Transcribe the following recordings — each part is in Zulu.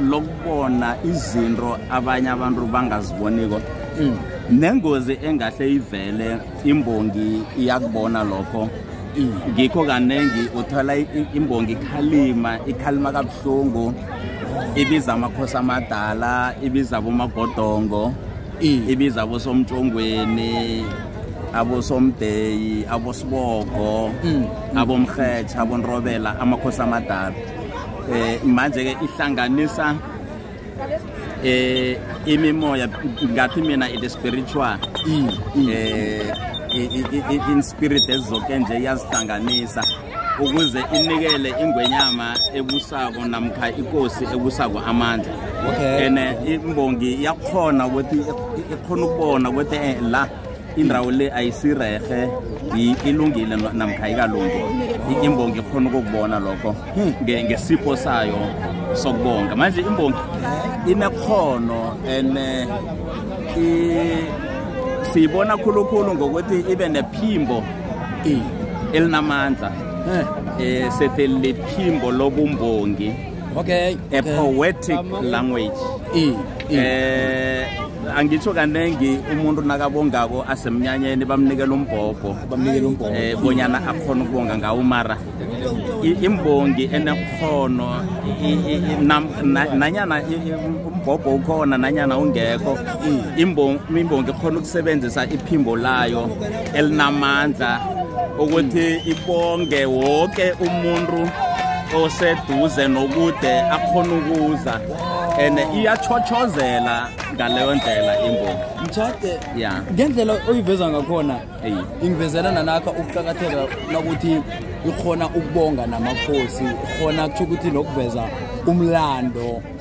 lokubona izinto abanye abantu bangaziboniko mm. nengozi engahle ivele imbongi iyakubona lokho mm. ngikho kaningi uthola imbongi ikhalima ikhalima kabuhlungu ibiza amakhosi amadala ibiza abomagodongo mm. ibiza abosomtshongweni abosomdeyi abosibogo abomrhetsha abonrobela amakhosi amadala eh manje ke ihlanganisa eh imimoya ngathi mina it is spiritual mm, mm. eh in spirit ezoke nje iyazihlanganisa ukuze inikele ingwenyama ebusako namkha ikosi ebusako amandla okay and eh, imbongi yakhona ukuthi ikhona ukubona ukuthi eh, la indawo le ayisirehe ilungile namkha ikalungi imbongi ikhona ukukubona lokho hmm. ngesipho sayo sokubonga manje imbongi inekhono and eh, siyibona khulukhulu ngokuthi ibe nephimbo elinamandla um sethi liphimbo lobumbongi okay, a okay. poetic um, language e, e. Eh, angitsho kaningi umuntu nakabongako asemnyanyeni bamnikela umbhobho eh bonyana akhona ukubonga ngawo mara imbongi enekhono nanyana umbhobho ukhona nanyana ungekho imbongi ikhona ukusebenzisa iphimbo layo elinamandla ukuthi ibonge wonke umuntu oseduze nokude akhona ukuza and iyachochozela ngaleyo ndlela imbongi mtshade ya ngendlela oyiveza ngakhona ingivezela nanakha ukuqakatheka nokuthi ikhona ukubonga namakhosi khona kutho ukuthi nokuveza umlando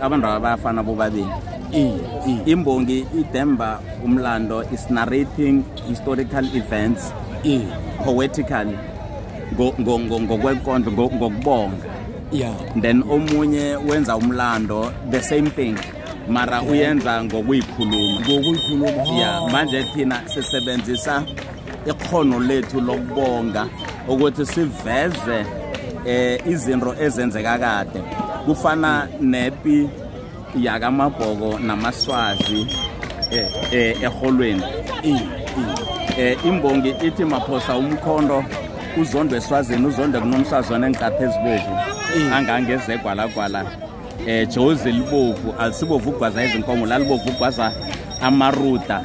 abantu aba bayafana bobabili imbongi idemba umlando is narrating historical events poetically ngokwenkondlo ngokubonga yeah then omunye wenza umlando the same thing mara uyenza ngokuyikhuluma ngokuyikhuluma yeah manje thina sisebenzisa ikhono lethu lokubonga ukuthi siveze eh izinto ezenzeka kade kufana nepi yakamabhoko namaswazi eh, eh eholweni eh imbongi ithi maphosa umkhondo uzondwe eswazini uzondwe kunomsazwana engiqaphe ezibovu angangezegwalagwala eh jozi libovu alisibovu ugwaza izinkomo lalibovu ugwaza amaruda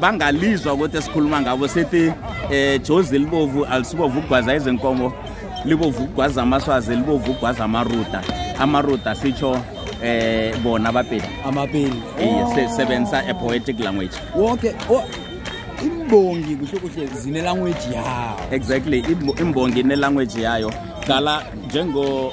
bangalizwa ukuthi esikhuluma ngabo sithi eh jozi libovu alisibovu ugwaza izinkomo libovu ugwaza amaswazi libovu ugwaza amaruta amaruta sitsho eh bona abapeli amapeli iye oh. sisebenzisa a poetic language wonke oh, imbongi kusho kuhle zine language yayo exactly imbongi ne language yayo dala njengo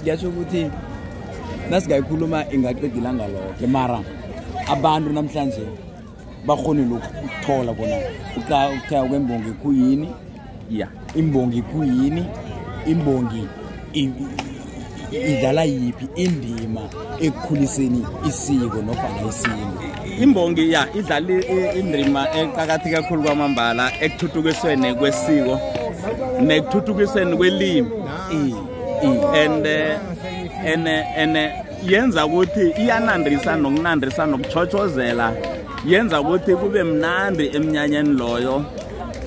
kuyasho ukuthi nasingayikhuluma ingaqeda ilanga loke mara abantu namhlanje bakhonile ukuthola bona ukuthaya kwembongi kuyini ya imbongi kuyini imbongi idlala yiphi indima ekukhuliseni isiko nofana isintu imbongi ya idlala indima eqakathi kakhulu kwamambala ekuthuthukisweni kwesiko nekuthuthukisweni kwelimi and eh, and eh, and eh, yenza ukuthi iyanandisa nokunandisa nokuchotshozela yenza ukuthi kube mnandi emnyanyeni loyo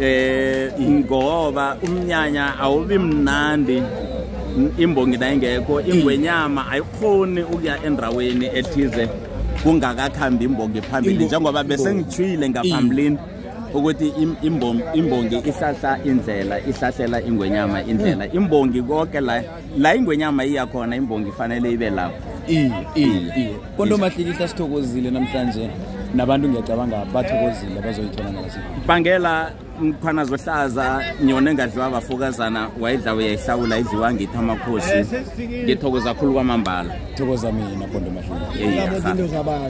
eh ngoba umnyanya awubi mnandi imbongi nayingekho ingwenyama ayikhoni ukuya endaweni ethize kungakakhambi imbongi phambili njengoba bese ngithwile ngaphambilini ukuthi imbongi ihlahla indlela ihlahlela ingwenyama indlela hmm. imbongi konke la la ingwenyama iya khona imbongi ifanele ibe lapho kodwa umahlikihla sithokozile namhlanje nabantu ngiyacabanga bathokozile bazoyithola nalasi bangela mkhwana zohlaza nyona engadliwa abafokazana wayidla uyayihlawula idliwa ngithi amakhosi ngithokoza khulu kwamambala thokoza mina bondo mahlikihla